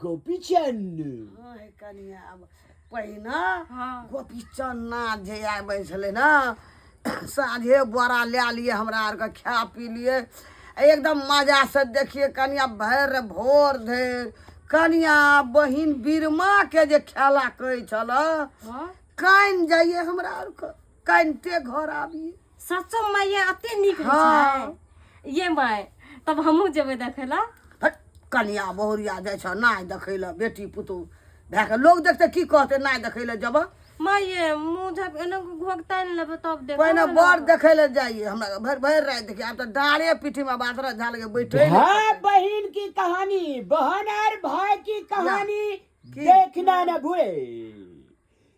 गोपी चन्न हँ कनिया आब पहिने हँ गोपी चन्ना जे आबै छलै ने साँझे बोरा लए लिए हमरा आरके खा पी लिए आ एकदम मजासँ देखिए कनिया भरि भोर धरि कनिया बहिन बीरमाके जे खेला कहै छलऽ हँ कान जाइए हमरा आरके कानिते घर आबियै सचो माये अते नीक होइ हँ। छै ये माय तब हमहूँ जेबै देखै लए फट, कनिया बहुरिया जाइ छौ नाय देखै लए बेटी पुतहु भए कऽ लोक देखतै की कहतै नाय देखै लए जेबह माये मुँह झक एना घोघता नहि लेबै तब देखबै पहिने ने। बर देखै लए जाइए हमरा भरि भरि राति देखियै आब तऽ डाँड़े पीठीमे बासरा झाल के बैठे ने भाई बहन की कहानी बहन और भाई की कहानी देखना न भूले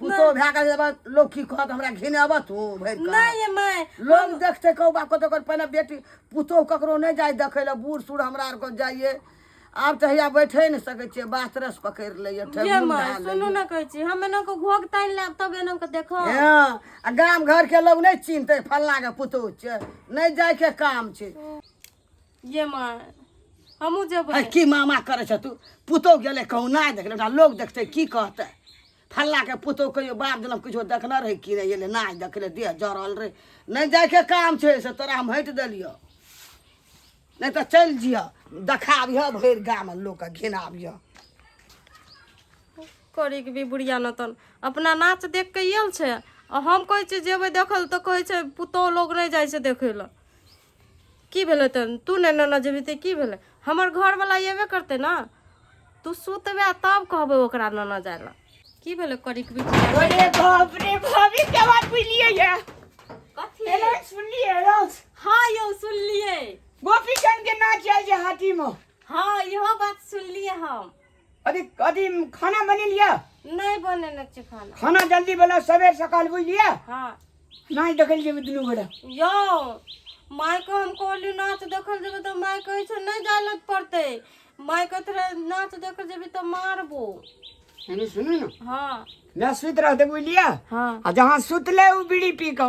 पुतो भए कऽ जेबऽ, लोक की कहत हमरा घिन अबऽ तू भरि कऽ। नहि ये माय लोग देखते कहू बाप कतौ कर पहिने बेटी पुतोह ककरो नहि जाय देखै लए बूढ़ सूढ़ हमरा आरके जाइए आब तऽ हैया बैठे नहि सकै छियै बात रस पकड़ि लैए ये ठेहुन माय धए सुनू लैए। ना कहै छी हम एना को घोग तानि लाब तब एना को देखो हँ आ गाम घरके लोग नहि चिन्हतै फल्लाँके पुतोह छै नहि जायके काम छै ये माँ हमहूँ जेबै है की मामा करै छह तू पुतोह गेलै कहूँ नहि देखलै ओकरा लोक देखतै की कहतै फल्लाके पुतोह कहियो बाप जनम किछो देखने रहै कि नहि एलै नहि देखलै देह जरल रहै नहि जायके काम छै से तोरा हम हटि देलियौ नहि तऽ चलि जिह देखाबिह भरि गाममे लोकके घिनाबिह करीके भी बुढ़िया नतन अपना नाच देख के आयल छै आ हम कहै छियै जेबै देखल तऽ कहै छै पुतोह लोग नहि जाइ छै देखै लए की भेलै तहन तू नहि नेने जेबही तऽ की भेलै हमर घरवला अयबे करतै ने तू सुतबे तब कहबै ओकरा नेने जाय लए की भेलै करिक अरे बाप रे भाभी के बात बुझलिए ये कथी एना सुनलिए रोज हां यौ सुनलिए गोपी चंद के नाच आयल जे हाथी में हां इहो बात सुनलिए हम अथी अथी खाना बनी लिया नहीं बने न छी खाना खाना जल्दी बना सवेर सकाल बुझ लिया हाँ नहीं देखल जेबे दुनू गोरा यो माय को हम कहली नाच देखल जेबे तो माय कहे छे नहीं जाय पड़ते माय को थोड़ा नाच देखल जेबे तो मारबो सुनू ना हाँ मैं सुत रहते बुझ लिया हाँ जहाँ सुत ले वो बीड़ी पी का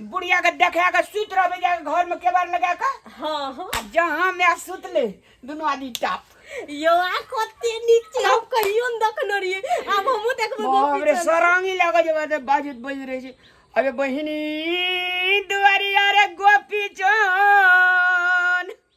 बुढ़िया के देखा के सुत रहबे जाके घर में केबार लगा के हाँ हाँ आ जहाँ में आ सुत ले दुनू आदमी टाप यो आ कते नीक छै हम कहियो न देखने रहियै आब हमहूँ देखबै बाप गोपी रे चल। सरांगी लगे जे बात बाजत बज रहे छै अबे बहिनी दुआरी अरे गोपी चोन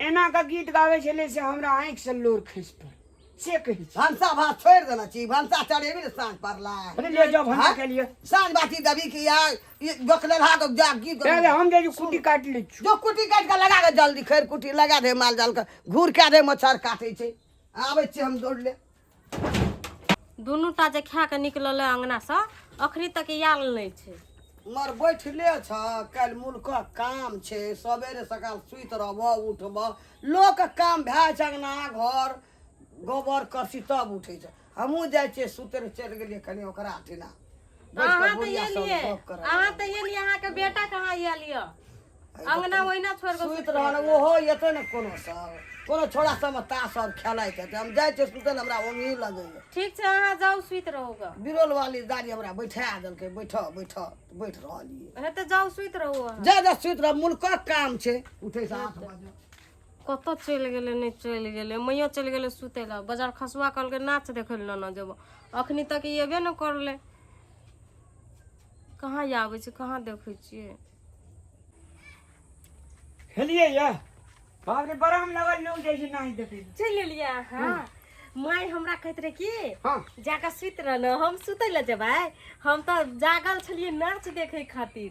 एना के गीत गावे छले से हमरा आंख से लोर खस पर से कहि भनसा भात छोड़ देना चाहिए भनसा चढ़ेबी ने साँझ पड़ला अरे ले जाओ भनसा हाँ? के लिए साँझ बाटी दबी के यार ये बकले रहा तो जा की पहले हम जे कुटी काट ले छु जो कुटी काट के लगा के जल्दी खैर कुटी लगा दे माल जाल के घूर के दे मच्छर काटे छे आवे छे हम दौड़ ले दुनू टा जे खा कऽ निकलल है अङ्गनासँ अखनी तक आयल नहि छै मर बैठले छ काल्हि मुल्क काम छै सबेरे सकाल सुति रहबह उठबह लोक काम भए जाइ छै अङ्गना घर गोबर करसी तब उठै छै हमहूँ जाइ छियै सुतरे चलि गेलियै कनि ओकरा अथी लए अहाँ तऽ ये लिए अहाँ तऽ ये लिए अहाँके बेटा कहाँ ये लिअ अंगना ओहिना छोड़ के सुति रहल ओहो एते ने कोनो सब कोनो छोड़ा सब तास सब खेलाइ छै हम जाइ छियै सुतल हमरा ओंगी लगैया ठीक छै अहाँ जाउ सुति रहू ग बिरोल वाली दादी हमरा बैठा देलकै बैठऽ बैठऽ बैठ रहलियै हे तऽ जाउ सुति रहू अहाँ। जा जा सुति रह मुल्कक काम छै उठै से आठ बजे कतऽ चलि गेलै नहि चलि गेलै मैया चलि गेलै सुतै लए बाजार खसुआ कहलकै नाच देखै लए नाना जेबो अखनी तक ई एबे ने करले कहाँ आबै छै कहाँ देखै छियै खेलिए या बाप रे बड़ा हम लगल लोग जाइ छै नहि देखै चलि एलियै अहाँ माय हमरा कहैत रहे कि हाँ। जाके सुति रह ने हम सुतै लए जेबै हम तऽ जागल छलियै नाच देखै खातिर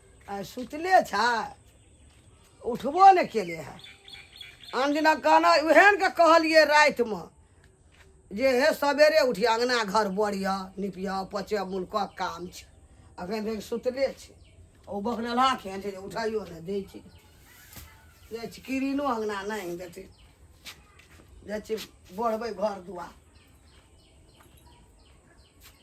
आइ सुतले छै उठबो नहि केले है आन दिना कहना उहे ने के कहलियै रातिमे जे हे सवेरे उठिया अङ्गना घर बड़िया निपिया पचे मुल्कक काम छै अखन तक सुतले छै ओ बकरला केहन छै जे उठाइयो नहि दै छै जाइ छी किरिनो अङ्गना नहि देतै जाइ छी बढ़बै घर दुआर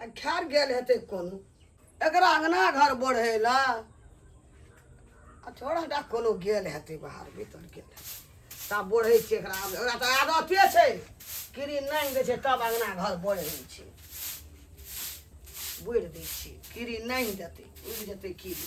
आ खार गेल हेतै कोनो एकरा अङ्गना घर बढ़ै लए आ थोड़ा टा कोनो गेल हेतै बाहर भीतर गेल हेतै तब बढ़ै छै एकरा आब एकरा तऽ आदते छै कीड़ी नाङ्गि दै छै तब अङ्गना घर बढ़ै छै बोरि दै छै कीड़ी नाङ्गि देतै उड़ि जेतै कीड़ी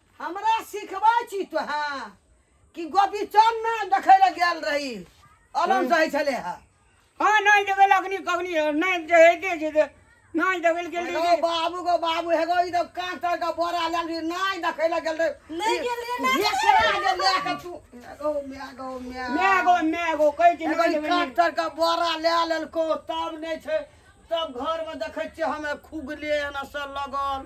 हमरा सिखबै छी तोहें कि गोपी चान ना देखै लए गेल रही अलम सहै छलै हा हाँ नहीं देवे लगनी कगनी नहीं देहे दे जे दे नहीं देवे के एगो लिए बाबू गो बाबू हेगो ई तो कांच तर का बोरा लाल भी नाय देखै लए गेल रही नहीं गेल रही, नहीं ये करा जे ले के तू एगो म्या गो म्या मैं गो मैं गो कह के एगो नहीं ई देवे कांच तर का बोरा ले लेलको तब नै छै तब घर में देखै छियै हमे खुगले एना से लगल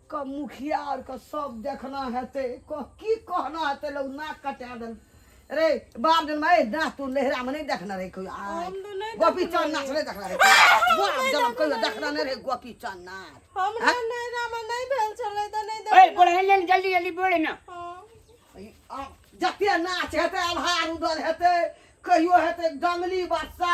क मुखिया आर क सब देखना हेते क कि कहना हेते लोग नाक कटा देल रे बाप जन माय नाच तू लहरा में नहीं देखना रे कोई आ हम तो नहीं गोपी देखना चांद नाच रे। नहीं देखना रे बाप नहीं जन कोई देखना देखना नहीं रे गोपी चांद नाच हमरा नैरा में नहीं भेल छलै त नहीं ओए देख बोले ले जल्दी जल्दी बोले ना ई आ जते नाच हेते आभार उदल हेते कहियो हेते डंगली बच्चा